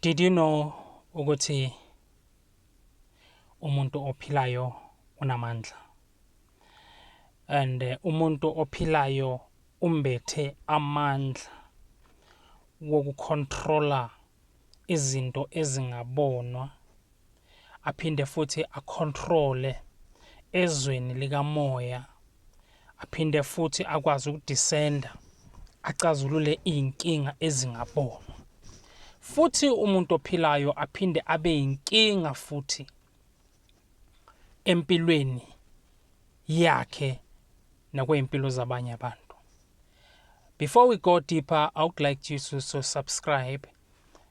Did you know ukuthi umuntu ophilayo unamandla? And eh, umuntu ophilayo umbethe amandla wokucontroller izinto ezingabonwa aphinde futhi akhontrole ezweni likamoya aphinde futhi akwazi ukudisenda acazulule iy'nkinga ezingabonwa futhi umuntu ophilayo aphinde abe yinkinga futhi empilweni yakhe nakwey'mpilo zabanye abantu before we go deeper i would like you to, to subscribe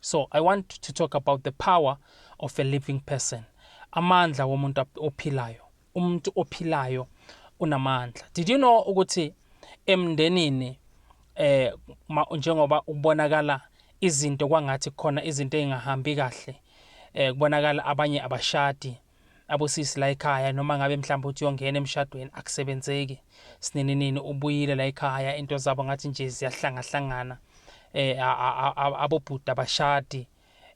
So I want to talk about the power of a living person. Amandla womuntu ophilayo. Umuntu ophilayo unamandla. Did you know ukuthi emndenini eh njengoba ubonakala izinto kwangathi khona izinto ezingahambi kahle eh kubonakala abanye abashadi Abosisi la ekhaya noma ngabe mhlawumbe uthi uyongena emshadweni akusebenzeki. Sinininini ubuyile la ekhaya into zabo ngathi nje ziyahlangahlangana. Eh abobhuti abashadi.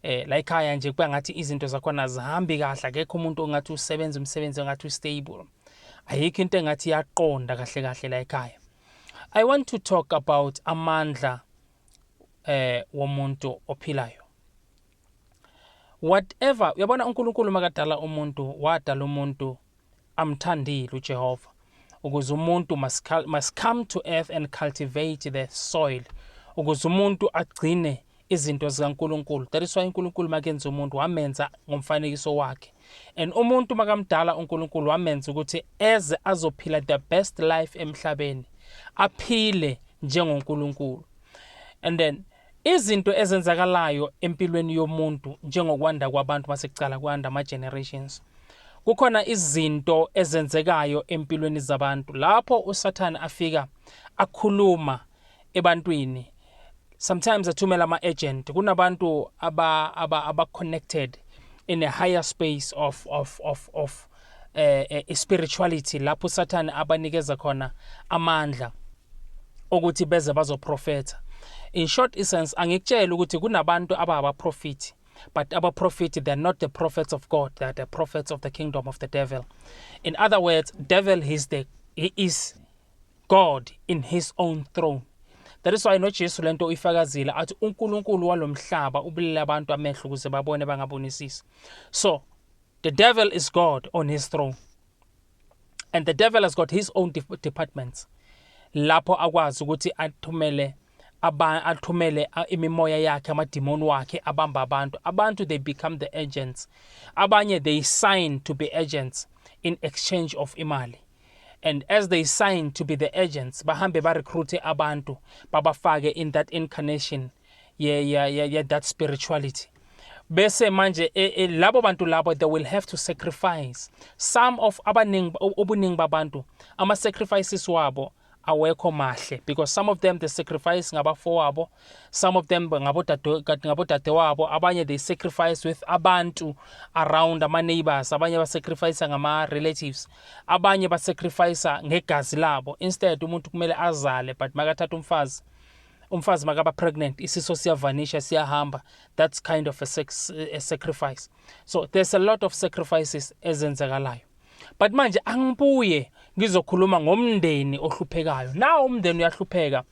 Eh la ekhaya nje kuba ngathi izinto zakhona azihambi kahle akekho umuntu ongathi usebenza umsebenzi ongathi ustable. Ayikho into engathi iyaqonda kahle kahle la ekhaya. I want to talk about amandla eh womuntu ophilayo. whatever uyabona uNkulunkulu makadala umuntu wadala umuntu amthandile uJehova ukuze umuntu must, must come to earth and cultivate the soil ukuze umuntu agcine izinto zikaNkulunkulu that is why uNkulunkulu makenza umuntu wamenza ngomfanekiso wakhe and umuntu makamdala uNkulunkulu wamenza ukuthi eze azophila the best life emhlabeni aphile njengoNkulunkulu and then Izinto ezenzakalayo empilweni yomuntu njengokwanda kwabantu masekucala kwanda ama generations. Kukhona izinto ezenzekayo empilweni zabantu lapho uSathane afika akhuluma ebantwini. Sometimes athumela ama agent kunabantu aba aba aba connected in a higher space of of of of eh, eh spirituality lapho usathane abanikeza khona amandla okuthi beze bazoprofetha in short essence angikutshela ukuthi kunabantu ababaprofiti but our prophet they're not the prophets of god they're the prophets of the kingdom of the devil in other words devil is the he is god in his own throne that is why nojesu le nto uyifakazile athi unkulunkulu walo mhlaba ubulele abantu amehlo ukuze babone bangabonisisi so The devil is God on his throne. And the devil has got his own departments. Lapho akwazi ukuthi athumele aba athumele imimoya yakhe amadimoni wakhe abamba abantu. Abantu they become the agents. Abanye they sign to be agents in exchange of imali. and as they sign to be the agents bahambe barecruite abantu babafake in that incarnation yeah, yeah, yeah, yeah, that spirituality bese manje e, e, labo bantu labo they will have to sacrifice some of abaningi ubuningi babantu ama sacrifices wabo awekho mahle because some of them they sacrifice ngabafowabo some of them ngabodade wabo abanye they sacrifice with abantu around ama neighbors abanye ba sacrifice ngama relatives abanye ba sacrifice ngegazi labo instead umuntu kumele azale but makathatha umfazi umfazi makaba pregnant isiso siyavanisha siyahamba that's kind of a, sex, a sacrifice so there's a lot of sacrifices ezenzekalayo but manje angibuye ngizokhuluma ngomndeni ohluphekayo na umndeni uyahlupheka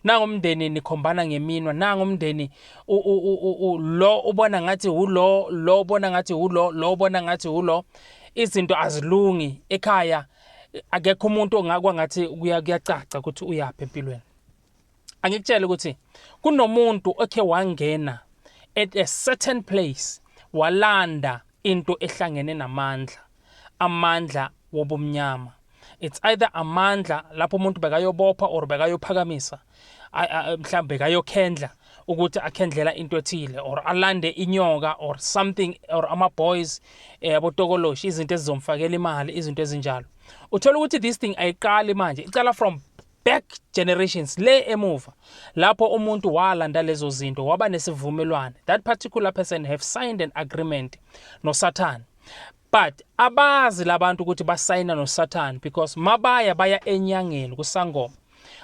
nango umndeni nikhombana ngeminwa nango umndeni lo ubona ngathi ulo lo ubona ngathi ulo lo ubona ngathi ulo izinto azilungi ekhaya akekho umuntu ongakwa ngathi kuyacaca ukuthi uyaphi empilweni angikutshela ukuthi kunomuntu okhe wangena at a certain place walanda into ehlangene namandla amandla wobumnyama it's either amandla lapho umuntu bekayobopha or bekayophakamisa mhlawumbe bekayokhendla ukuthi akhendlela into ethile or alande inyoka or something or ama-boys eh, abotokoloshi izinto ezizomfakela imali izinto ezinjalo uthola ukuthi this thing ayiqali manje icala from back generations le emuva lapho umuntu walanda lezo zinto waba nesivumelwane that particular person have signed an agreement nosathane but abazi labantu ukuthi basayina nosathane because mabaya baya enyangeni kusangoma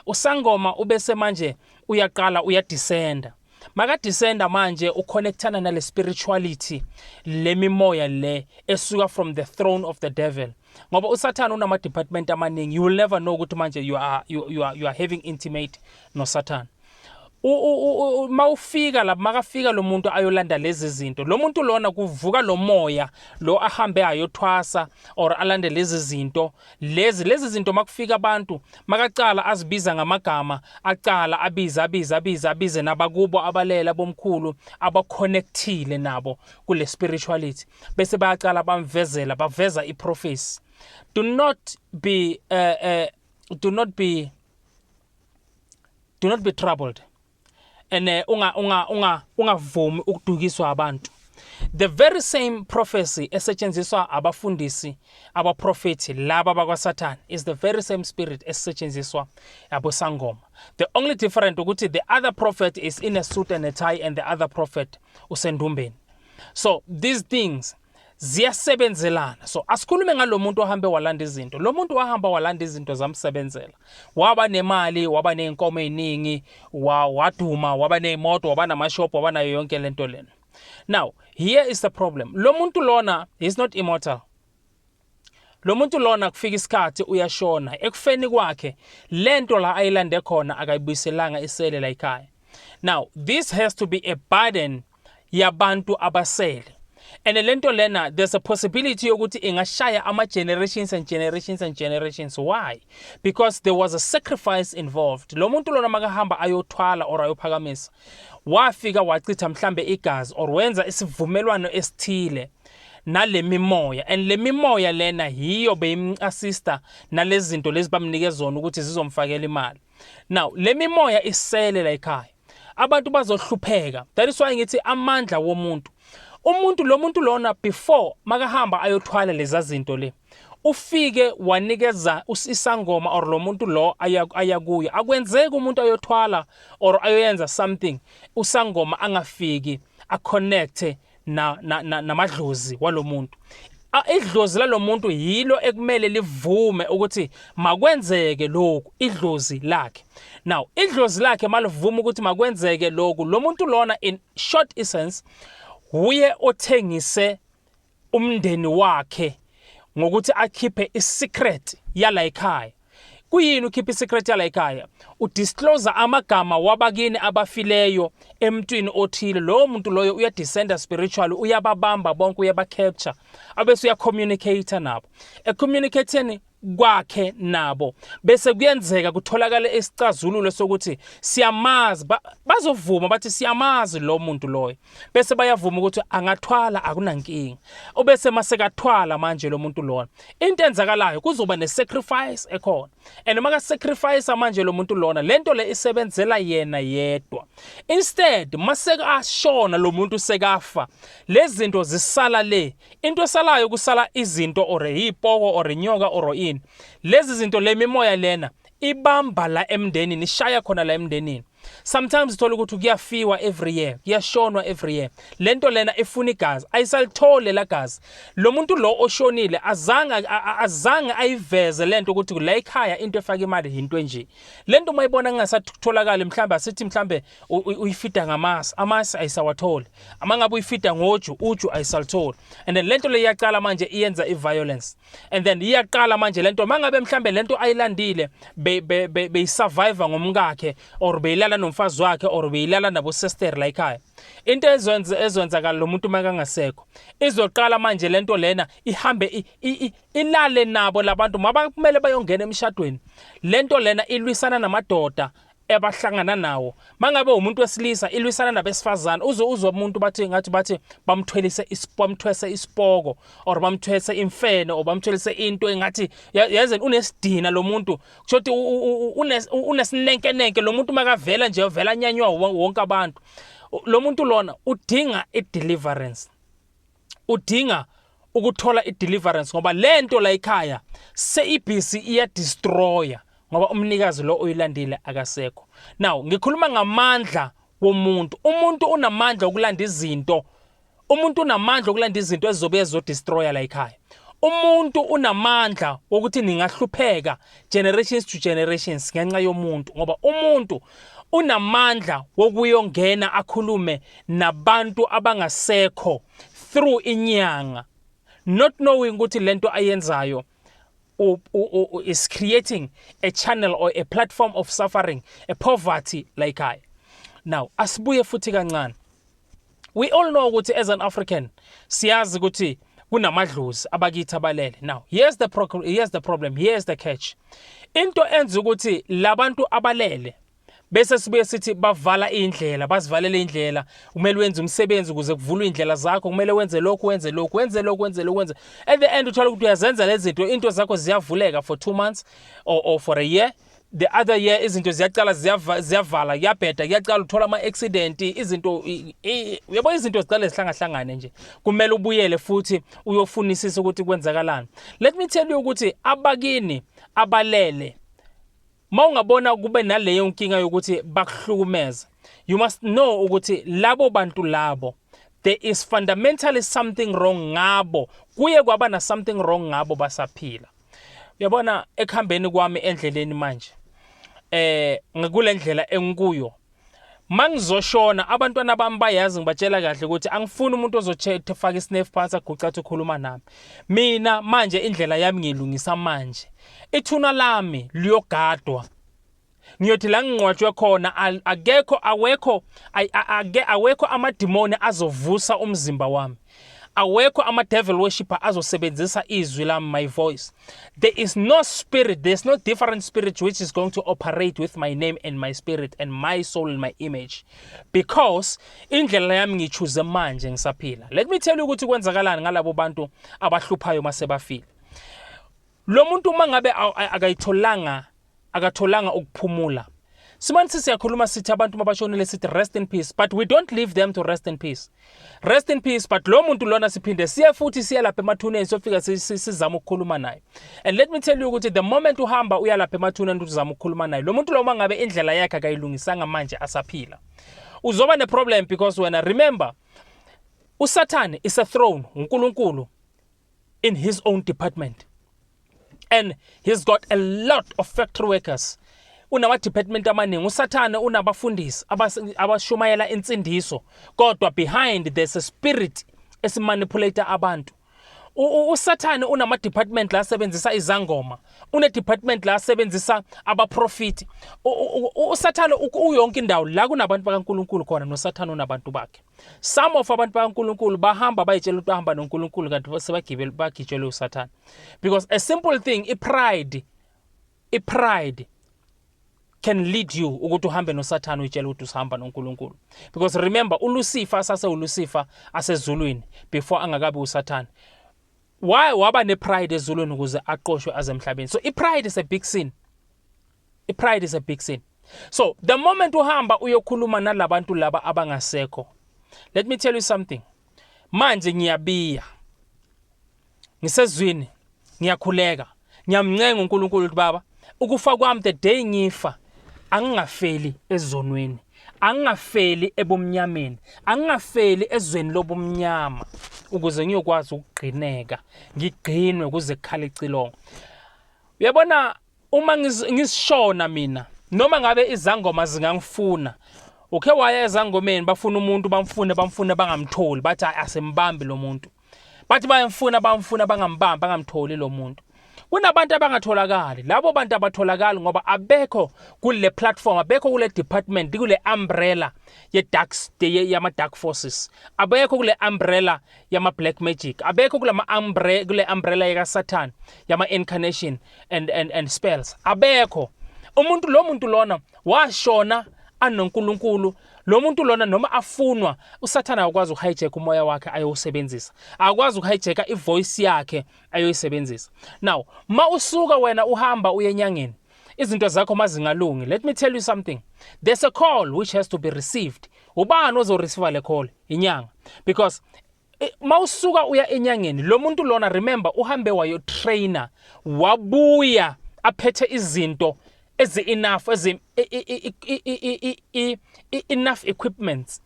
usangoma ubese manje uyaqala uyadisenda makadisenda manje uconnectana nale spirituality le mimoya le esuka from the throne of the devil ngoba usathane unama department amaningi you will never know ukuthi manje you are, you, you are, you are having intimate nosathane uma ufika lapho makafika lo muntu ayolanda lezi zinto lo muntu lona kuvuka lo moya lo ahambe ayothwasa or alande lezi zinto lezi lezi zinto makufika abantu makacala azibiza ngamagama acala abize abize abize abize nabakubo abalela bomkhulu abaconnectile nabo kule spirituality bese bayaqala bamvezela baveza iprofesi do not be uh, uh, do not be do not be troubled and uh, unga unga unga ungavumi ukudukiswa abantu the very same prophecy esetshenziswa abafundisi abaprofethi laba bakwasathane is the very same spirit esetshenziswa abosangoma the only different ukuthi the other prophet is in a suit and a tie and the other prophet usendumbeni so these things ziyasebenzelana so asikhulume ngalomuntu ohambe walanda izinto lo muntu wahamba walanda izinto zamsebenzela waba nemali waba nezinkomo eziningi waduma waba nezimoto waba namashop waba nayo yonke lento lena now here is the problem lo muntu lona is not immortal lo muntu lona kufika isikhathi uyashona ekufeni kwakhe lento la ayilande khona akayibuyiselanga isele la ekhaya now this has to be a burden yabantu abasele and lento lena there's a possibility yokuthi ingashaya ama generations and generations and generations why because there was a sacrifice involved lo muntu lona makahamba ayothwala or ayophakamisa wafika wachitha mhlambe igazi or wenza isivumelwano esithile nalemimoya and lemimoya lena hiyo beyimcasista nalezinto lezi bamnike zona ukuthi zizomfakela imali now lemimoya isele la ekhaya abantu bazohlupheka that is why ngithi amandla womuntu umuntu lo muntu lona before makahamba ayothwala lezazinto le ufike wanikeza isangoma or lo muntu lo aya kuyo akwenzeki umuntu ayothwala or ayoyenza something usangoma angafiki aconnecte namadlozi na, na, walo muntu idlozi lalo muntu yilo ekumele livume ukuthi makwenzeke lokhu idlozi lakhe now idlozi lakhe malivuma ukuthi makwenzeke lokhu lo muntu lona in short essence wuye othengise umndeni wakhe ngokuthi akhiphe isecret yala ekhaya kuyini ukhipha isecret yala ekhaya udisclose amagama wabakini abafileyo emntwini othile lowo muntu loyo uyadescenda spiritually uyababamba bonke uyabacapture abese uyacommunicate nabo ecommunicating kwakhe nabo bese kuyenzeka kutholakale isicazululo sokuthi siyamazi bazovuma bathi siyamazi lo muntu loyo bese bayavuma ukuthi angathwala akunankinga ubese masekathwala manje lo muntu lona into enzakalayo kuzoba nesacrifice ekhona and uma kasacrifice manje lo muntu lona lento le isebenzela yena yedwa instead maseka ashona lo muntu sekafa lezinto zisala le Into esalayo kusala izinto or yipoko or inyoka or ini. Lezi zinto le mimoya lena ibamba la emndenini ishaya khona la emndenini. Sometimes uthola ukuthi kuyafiwa every year, kuyashonwa every year. Lento lena ifuna igazi, ayisalithole la gazi. Lo muntu lo oshonile azange azange ayiveze lento ukuthi la ekhaya into efaka imali into enje. Lento mayibona kungasatholakala mhlawumbe asithi mhlawumbe uyifida ngamasi amasi ayisawatholi ama ngabe uyifida ngoju uju ayisalutholi and then lento leyaqala manje iyenza iviolence and then iyaqala manje lento mangabe mhlambe lento ayilandile beyisurvive ngomkakhe or beyilala nomfazi wakhe or beyilala nabo sister la ekhaya into ezwenza ezwenzakala lo muntu makangasekho izoqala manje lento lena ihambe ilale nabo labantu mabakumele bayongena emshadweni lento lena ilwisana namadoda ebahlangana nawo mangabe umuntu wesilisa ilwisana nabesifazane uze uzwe umuntu bathi ngathi bathi bamthwelise bamthwese isipoko or bamthwese imfene or bamthwelise into engathi yaze unesidina lo muntu kusho ukuthi unesinenkenenke lo muntu makavela nje uvela nyanywa wonke abantu lo muntu lona udinga i-deliverance udinga ukuthola i-deliverance ngoba le nto la ekhaya seyibhizi iyadestroya ngoba umnikazi lo oyilandile akasekho now ngikhuluma ngamandla womuntu umuntu unamandla okulanda izinto umuntu unamandla okulanda izinto ezizobe ezodestroya la ekhaya umuntu unamandla wokuthi ningahlupheka generations to generations ngenxa yomuntu ngoba umuntu unamandla wokuyongena akhulume nabantu abangasekho through inyanga not knowing ukuthi lento ayenzayo is creating a channel or a platform of suffering a poverty like i now asibuye futhi kancane we all know ukuthi as an african siyazi ukuthi kunamadlozi abakithi abalele now here's the, here's the problem here's the catch into enza ukuthi labantu abalele bese sibuye sithi bavala indlela bazivalele indlela kumele wenze umsebenzi ukuze kuvulwe indlela zakho kumele wenze lokhu wenze lokhu wenze lokhu wenze lokhu wenze at the end uthola ukuthi uyazenza lezi zinto into zakho ziyavuleka for 2 months or, or for a year the other year izinto ziyacala ziyavala kuyabheda kuyacala uthola ama-accident izinto uyabo izinto zicale zihlangahlangane nje kumele ubuyele futhi uyofunisisa ukuthi kwenzakalani let me tell you ukuthi abakini abalele uma ungabona kube naleyo nkinga yokuthi bakuhlukumeza you must know ukuthi labo bantu labo there is fundamentally something wrong ngabo kuye kwaba na something wrong ngabo basaphila Uyabona ekuhambeni kwami endleleni manje eh ngikulendlela engikuyo mangizoshona abantwana bami bayazi ngibatshela kahle ukuthi angifuni umuntu ozothethe faka isnefu phansi aguca athi ukhuluma nami mina manje indlela yami ngiyilungisa manje ithuna lami liyogadwa ngiyothi la ngingcwatshwe khona akekho awekho awekho amadimoni azovusa umzimba wami awekho ama-devil worshipper azosebenzisa izwi lami my voice there is no spirit there is no different spirit which is going to operate with my name and my spirit and my soul and my image because indlela yami ngichuze manje ngisaphila let me tell you ukuthi kwenzakalani ngalabo bantu abahluphayo uma sebafile Lo muntu uma ngabe akayitholanga akatholanga ukuphumula. Simane siyakhuluma sithi abantu mabashonile sithi rest in peace but we don't leave them to rest in peace. Rest in peace but lo muntu lona siphinde siye futhi siye lapha emathuneni sofika sizama ukukhuluma naye. And let me tell you ukuthi the moment uhamba uya lapha emathuneni ukuthi uzama ukukhuluma naye. Lo muntu lo uma ngabe indlela yakhe akayilungisanga manje asaphila. Uzoba ne problem because wena remember uSathane is a throne uNkulunkulu in his own department and he's got a lot of factory workers unamadepartment amaningi usathane unabafundisi abashumayela insindiso kodwa behind there's a spirit esimanipulate abantu usathane unamadepartment la asebenzisa izangoma unedepartment la asebenzisa abaprofiti usathane uyonke indawo la kunabantu bakankulunkulu khona nosathane unabantu bakhe some of abantu bakaNkulunkulu bahamba bayitshela ukuthi bahamba noNkulunkulu kanti sebagibele bagitshelwe uSathane because a simple thing ipride ipride can lead you ukuthi uhambe noSathane uyitshela ukuthi usihamba noNkulunkulu because remember uLucifer asase uLucifer asezulwini before angakabi uSathane why waba nepride ezulwini ukuze aqoshwe azemhlabeni so ipride is a big sin ipride is a big sin so the moment uhamba uyokhuluma nalabantu laba abangasekho let me tell you something manje ngiyabiya ngisezwini ngiyakhuleka ngiyamncenga uNkulunkulu ukuthi baba ukufa kwami the day ngifa angingafeli ezonweni angingafeli ebumnyameni angingafeli ezweni lobumnyama ukuze ngiyokwazi ukugqineka ngigqinwe kuze kukhala icilongo uyabona Uma ngisishona mina noma ngabe izangoma zingangifuna ukhe waya ezangomeni bafuna umuntu bamfune bamfune bangamtholi bathi hayi asimbambi lo muntu bathi bayamfuna bamfuna bangambambi bangamtholi lo muntu kunabantu abangatholakali labo bantu abatholakali ngoba abekho kule platform abekho kule department kule umbrella ye dark yama dark forces abekho kule umbrella yama black magic abekho kule umbrella kule umbrella yaka satan yama incarnation and and and spells abekho umuntu lo muntu lona washona anoNkulunkulu lo muntu lona noma afunwa usathana akwazi ukuhijack umoya wakhe ayowusebenzisa akwazi ukuhijacka ivoice yakhe ayoyisebenzisa now ma usuka wena uhamba uyenyangeni izinto zakho mazingalungi let me tell you something there's a call which has to be received ubani ozoreceiva le call inyanga because Eh, mawusuka uya enyangeni lo muntu lona remember uhambe wayo trainer wabuya aphethe izinto ezi enough ezi enough equipments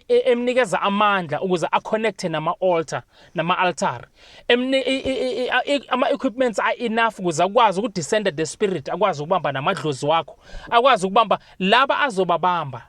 emnikeza amandla ukuze aconnecte nama altar nama altar ama equipments are enough ukuze akwazi ukudescenda the spirit akwazi ukubamba namadlozi wakho akwazi ukubamba laba azobabamba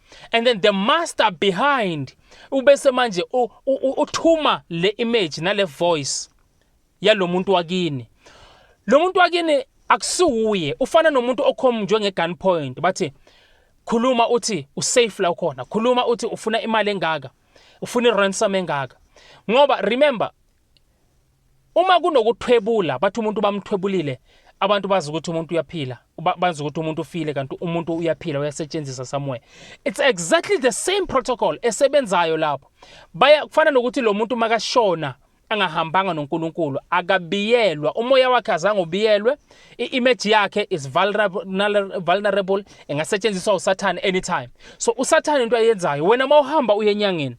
and then the master behind ubese manje uthuma le image nale voice yalomuntu wakini lo muntu wakini akusiwuye ufana nomuntu okhomnjwe nge-gun point bathi khuluma uthi usafe la ukhona khuluma uthi ufuna imali engaka ufuna i-ransom engaka ngoba remember Uma kunokuthwebula bathi umuntu bamthwebulile abantu bazi ukuthi umuntu uyaphila bazi ukuthi umuntu ufile kanti umuntu uyaphila uyasetshenziswa somewhere it's exactly the same protocol esebenzayo lapho baya kufana nokuthi lo muntu makashona angahambanga noNkulunkulu akabiyelwa umoya wakhe azange ubiyelwe i-image yakhe is vulnerable engasetshenziswa usathane anytime so usathane into ayenzayo wena uma uhamba uye enyangeni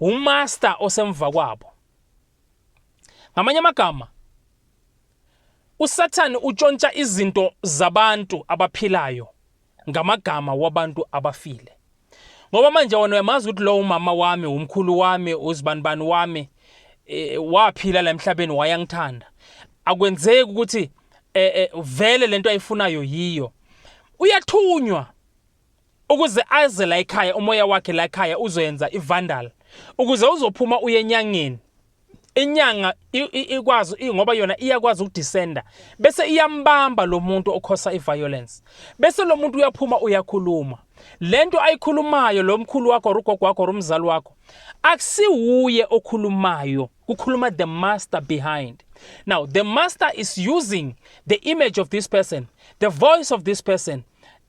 umaster osemva kwabo ngamanye amagama usathane utshontsha izinto zabantu abaphilayo ngamagama wabantu abafile ngoba manje wona uyamazi ukuthi lowo umama wami umkhulu wami uzibanibani wami e, waphila la emhlabeni wayangithanda akwenzeki ukuthi e, e, vele lento ayifunayo yiyo uyathunywa Ukuze aze la ekhaya umoya wakhe la ekhaya uzoyenza ivandal ukuze uzophuma uye enyangeni inyanga ikwazi ngoba yona iyakwazi ukudisenda bese iyambamba lo muntu okhosa i-violence bese lo muntu uyaphuma uyakhuluma le nto ayikhulumayo lo mkhulu wakho or ugogo wakho or umzali wakho akusiwuye okhulumayo kukhuluma the master behind now the master is using the image of this person the voice of this person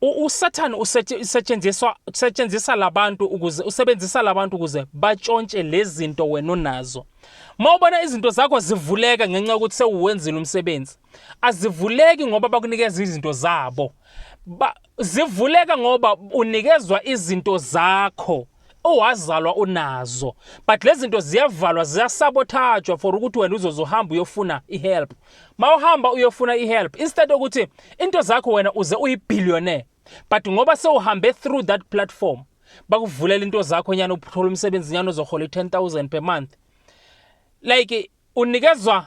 USathane usetshenziswa usetshenzisa labantu ukuze usebenzisa labantu ukuze batshontshe lezinto wena onazo. Mawubona izinto zakho zivuleka ngenxa yokuthi sewuwenzile umsebenzi. Azivuleki ngoba bakunikeza izinto zabo. Ba, zivuleka ngoba unikezwa izinto zakho. owazalwa unazo but lezinto ziyavalwa ziyasabothajwa for ukuthi wena uzoze uhamba uyofuna ihelp mawuhamba uyofuna ihelp instead ukuthi into zakho wena uze uyibillionaire but ngoba sewuhambe through that platform bakuvulela into zakho nyana uthola umsebenzi nyana ozohola i-10000 per month like unikezwa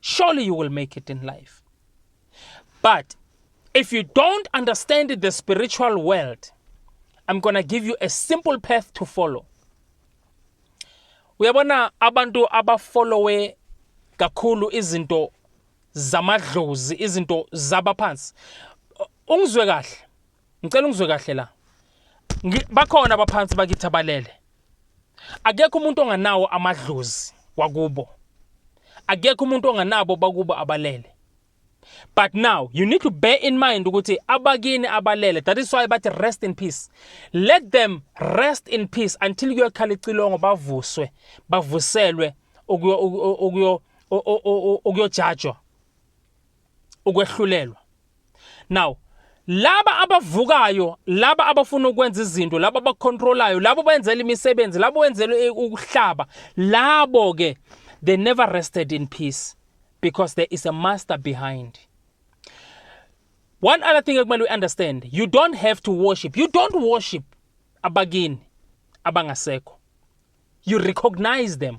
surely you will make it in life. But if you don't understand the spiritual world, I'm going to give you a simple path to follow. Uyabona abantu abafollowe kakhulu izinto zamadlozi, izinto zabaphansi. Ungizwe kahle. ngicela ungizwe kahle la bakhona abaphansi bakithi abalele akekho umuntu onganawo amadlozi wakubo akekho umuntu onganabo bakubo abalele but now you need to bear in mind ukuthi abakini abalele that is why bathi rest in peace let them rest in peace until kuyokhala icilongo bavuswe bavuselwe okuyojajwa ukwehlulelwa now laba abavukayo laba abafuna ukwenza izinto laba abacontrolayo labo benzela imisebenzi labo wenzela eh, ukuhlaba labo ke they never rested in peace because there is a master behind one other thing ekumele uyiunderstand you don't have to worship you don't worship abakini abangasekho you recognize them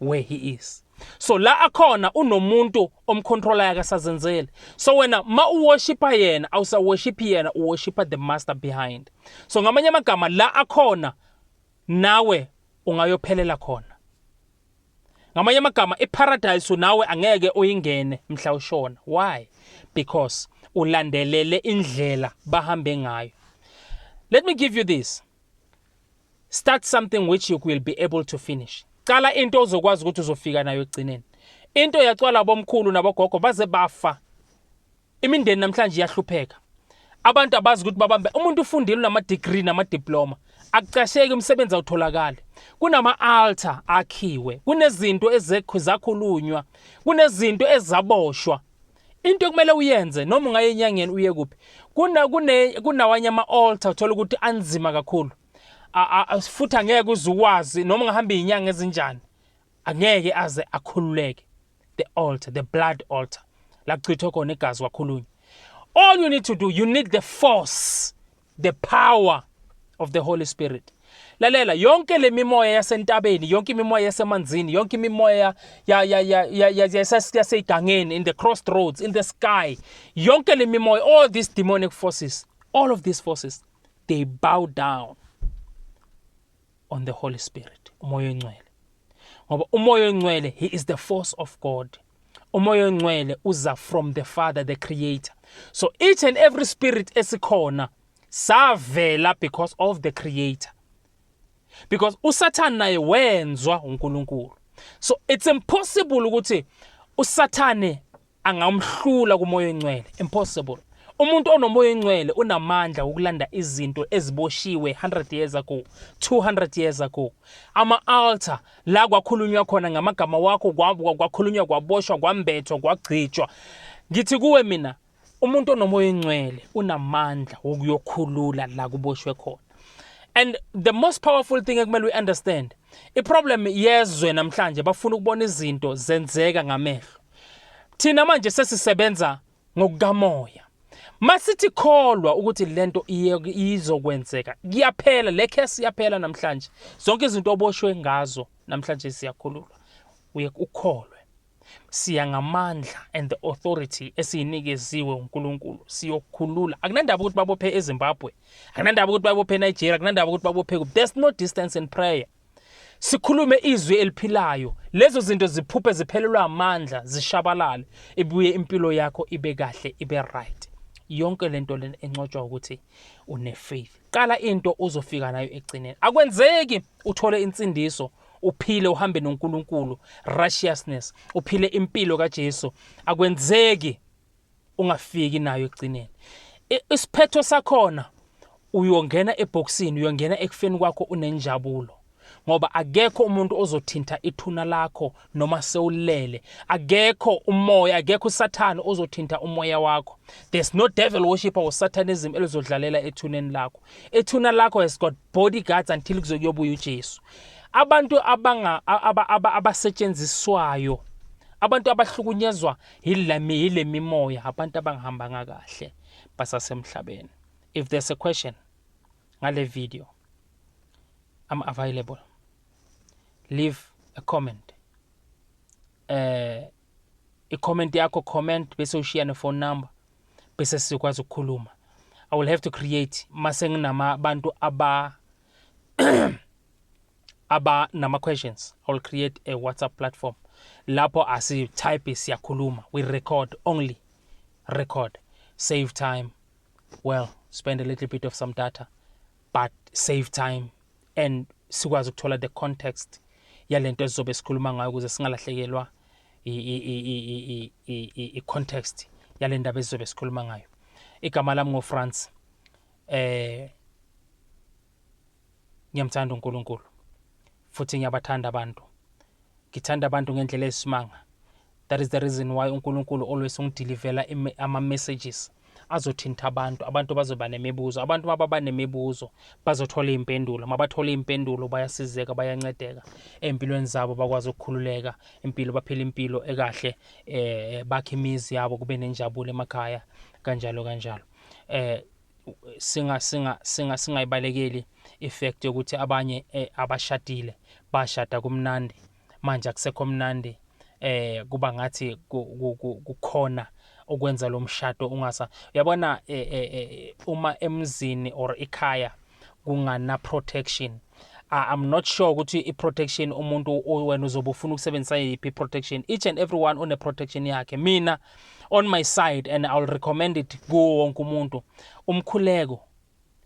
where he is so la akhona unomuntu omcontrola yake sazenzele so wena ma uworshipa yena awusaworshipi yena uworshipa the master behind so ngamanye amagama la akhona nawe ungayophelela khona ngamanye amagama iparadise nawe angeke uyingene mhla ushona why because ulandelele indlela bahambe ngayo let me give you this Start something which you will be able to finish. Cala into ozokwazi ukuthi uzofika nayo ekugcineni. Into yacwala abomkhulu nabogogo baze bafa. Imindeni namhlanje iyahlupheka. Abantu abazi ukuthi babambe umuntu ufundile unama degree nama diploma. Akucasheki umsebenzi awutholakali. Kunama altar akhiwe. Kunezinto ezekho zakhulunywa. Kunezinto ezaboshwa. into ekumele uyenze noma ungaye enyangeni uye kuphi kuna kune kunawanye ama altar uthola ukuthi anzima kakhulu futhi angeke uzukwazi noma ungahamba izinyanga ezinjani angeke aze akhululeke the altar the blood altar la kuchithwa khona igazi kwakhulunywa all you need to do you need the force the power of the holy spirit lalela yonke le mimoya yasentabeni yonke imimoya yasemanzini yonke imimoya yasegangeni in the crossroads in the sky yonke le mimoya all these demonic forces all of these forces they bow down on the Holy Spirit, umoya oyingcwele. Ngoba umoya oyingcwele he is the force of God. Umoya oyingcwele uza from the Father, the creator. So each and every spirit esikhona savela because of the creator. Because uSatan naye wenzwa uNkulunkulu. So it's impossible ukuthi uSathane angawumhlula kumoya oyingcwele impossible umuntu onomoya oyingcwele unamandla wokulanda izinto eziboshiwe 100 years ago 200 years ago ama-altar la kwakhulunywa khona ngamagama wakho kwakhulunywa kwaboshwa kwambethwa kwagcijwa ngithi kuwe mina umuntu onomoya oyingcwele unamandla wokuyokhulula la kuboshwe khona and the most powerful thing ekumele uyi-understand iproblem yezwe namhlanje bafuna ukubona izinto zenzeka ngamehlo Thina manje sesisebenza ngokukamoya. Masithi kholwa ukuthi lento izokwenzeka. Kuyaphela le case iyaphela namhlanje. Zonke izinto oboshwe ngazo namhlanje siyakhululwa. Uye ukholwe. Siya ngamandla and the authority esiyinikeziwe uNkulunkulu siyokhulula. Akunandaba ukuthi babophe eZimbabwe. Akunandaba ukuthi babophe eNigeria, akunandaba ukuthi babophe kuphi. There's no distance in prayer. Sikhulume izwi eliphilayo, lezo zinto ziphuphe ziphelelwa amandla, zishabalale, ibuye impilo yakho ibe kahle, ibe right. Yonke lento lena encotshwa ukuthi une faith. Qala into uzofika nayo egcineni. Akwenzeki uthole insindiso uphile uhambe noNkulunkulu righteousness uphile impilo kaJesu akwenzeki ungafiki nayo ekugcineni isiphetho sakhona uyongena ebhokisini uyongena ekufeni kwakho unenjabulo ngoba akekho umuntu ozothinta ithuna lakho noma sewulele akekho umoya akekho usathane ozothinta umoya wakho there's no devil worshipper or satanism elizodlalela ethuneni lakho ethuna lakho has got bodyguards until kuzokuyobuya uJesu abantu abanga abasetshenziswayo abantu abahlukunyezwa yile mimoya abantu abangihambanga kahle basasemhlabeni if there's a question ngale video i'm available leave a comment eh i-comment yakho comment bese ushiya ne-phone number bese sikwazi ukukhuluma i will have to create mase nginama abantu aba aba nama questions i will create a whatsapp platform lapho asi type siyakhuluma we record only record save time well spend a little bit of some data but save time and sikwazi ukuthola the context yalento esizobe sikhuluma ngayo ukuze singalahlekelwa i-context yale ndaba esizobe sikhuluma ngayo igama lami ngofrance eh ngiyamthanda uNkulunkulu futhi ngiyabathanda abantu ngithanda abantu ngendlela esimanga that is the reason why uNkulunkulu always ungidilivela ama messages azothinta abantu abantu bazoba nemibuzo abantu mababa nemibuzo bazothola iy'mpendulo mabathola iy'mpendulo bayasizeka bayancedeka ey'mpilweni zabo bakwazi ukukhululeka impilo baphila impilo ekahle eh bakhe imizi yabo kube nenjabulo emakhaya kanjalo kanjalo eh singa singa singa singayibalekeli ifact yokuthi abanye eh, abashadile bashada kumnandi manje akusekho mnandi eh kuba ngathi kukhona ukwenza lo mshado ungasa yabona eh, eh, eh, uma emzini or ikhaya kungana protection uh, I'm not sure ukuthi i-protection umuntu wena uzobe ufuna ukusebenzisa yiphi i-protection each and everyone une-protection yakhe mina on my side and I'll recommend it kuwo wonke umuntu umkhuleko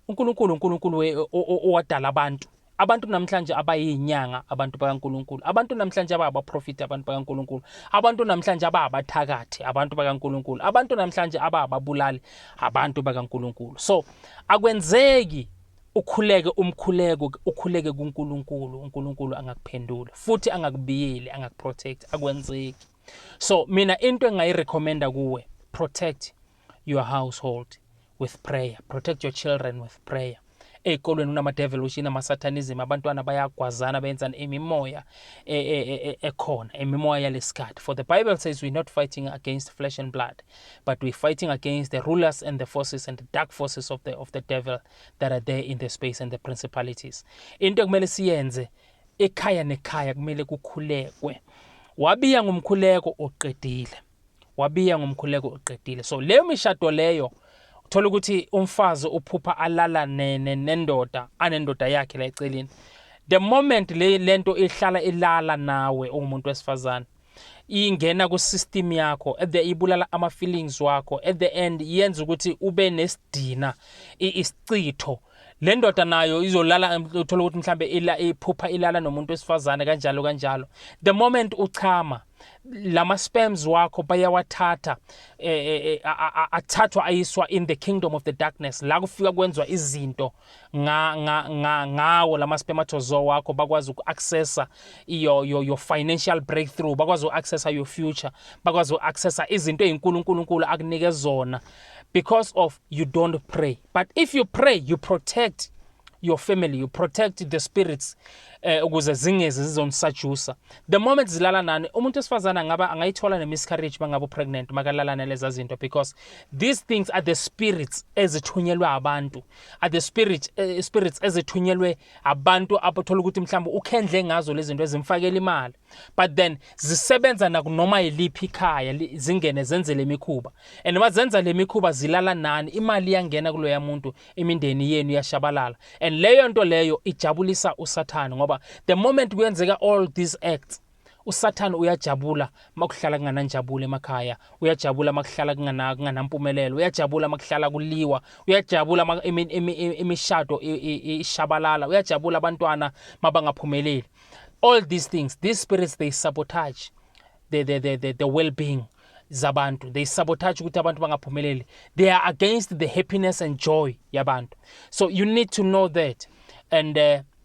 uNkulunkulu uNkulunkulu owadala abantu abantu namhlanje abayinyanga abantu bakaNkuluNkulu abantu namhlanje ababaprofiti abantu bakaNkuluNkulu abantu namhlanje ababathakathi abantu bakaNkuluNkulu abantu namhlanje abababulali abantu bakaNkuluNkulu so Akwenzeki ukhuleke umkhuleko ukhuleke kuNkulunkulu uNkulunkulu angakuphendula futhi angakubiyeli angakuprotect akwenzeki so mina into engayirecommenda kuwe protect your household with prayer protect your children with prayer ey'kolweni kunama-devolution ama-satanism abantwana bayagwazana benzani imimoya e, e, e, ekhona imimoya yalesikhathi for the bible says we're not fighting against flesh and blood but we're fighting against the rulers and the forces and the dark forces of the, of the devil that are there in the space and the principalities into ekumele siyenze ekhaya nekhaya kumele kukhulekwe wabiya ngomkhuleko oqedile wabiya ngomkhuleko oqedile so leyo mishado leyo uthola ukuthi umfazi uphupha alala nendoda anendoda yakhe la eceleni the moment le lento ihlala ilala nawe ungumuntu wesifazane ingena ku-system yakho at the ibulala ama-feelings wakho at the end yenza ukuthi ube nesidina isichitho le ndoda nayo izolala uthola ukuthi mhlambe iphupha ilala nomuntu wesifazane kanjalo kanjalo the moment uchama lama sperms wakho bayawathatha eh, eh, eh, athathwa ayiswa in the kingdom of the darkness la kufika kwenzwa izinto nga, nga, nga, ngawo lama spermatozoa wakho bakwazi uku-accessa your, your, your financial breakthrough bakwazi uku-accessa your future bakwazi uku-accessa izinto ey'nkulu unkulunkulu akunike zona because of you don't pray but if you pray you protect your family you protect the spirits eh, ukuze zingezi zizonisajusa the moment zilala nani umuntu wesifazane angaba angayithola ne-miscarriage mangabe upregnant makalala naleza zinto because These things are the spirits ezithunyelwe abantu are the spirit uh, spirits ezithunyelwe abantu abathola ukuthi mhlawumbe ukhendle ngazo lezi zinto ezimfakela imali but then zisebenza nakunoma yiliphi ikhaya zingene zenze le mikhuba and uma zenza le mikhuba zilala nani imali iyangena kuloya muntu imindeni yenu iyashabalala and leyo nto leyo ijabulisa usathane ngoba the moment kuyenzeka all these acts usathane uyajabula makuhlala kungananjabulo emakhaya uyajabula makuhlala kunganampumelelo uyajabula makuhlala kuliwa uyajabula imishado ishabalala uyajabula abantwana mabangaphumeleli all these things these spirits they sabotage the, the, the, the, the well-being zabantu they sabotage ukuthi abantu bangaphumeleli they are against the happiness and joy yabantu so you need to know that and uh,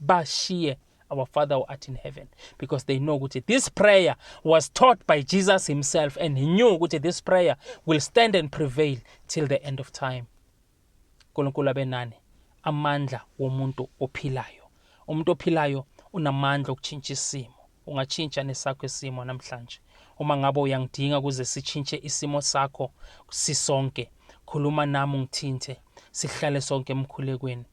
bashiye our father who art in heaven because they know ukuthi this prayer was taught by jesus himself and he knew ukuthi this prayer will stand and prevail till the end of time nkulunkulu abe nani amandla womuntu ophilayo umuntu ophilayo unamandla okutshintsha isimo ungatshintsha nesakho isimo namhlanje uma ngabe uyangidinga ukuze sitshintshe isimo sakho sisonke khuluma nami ungithinte sihlale sonke emkhulekweni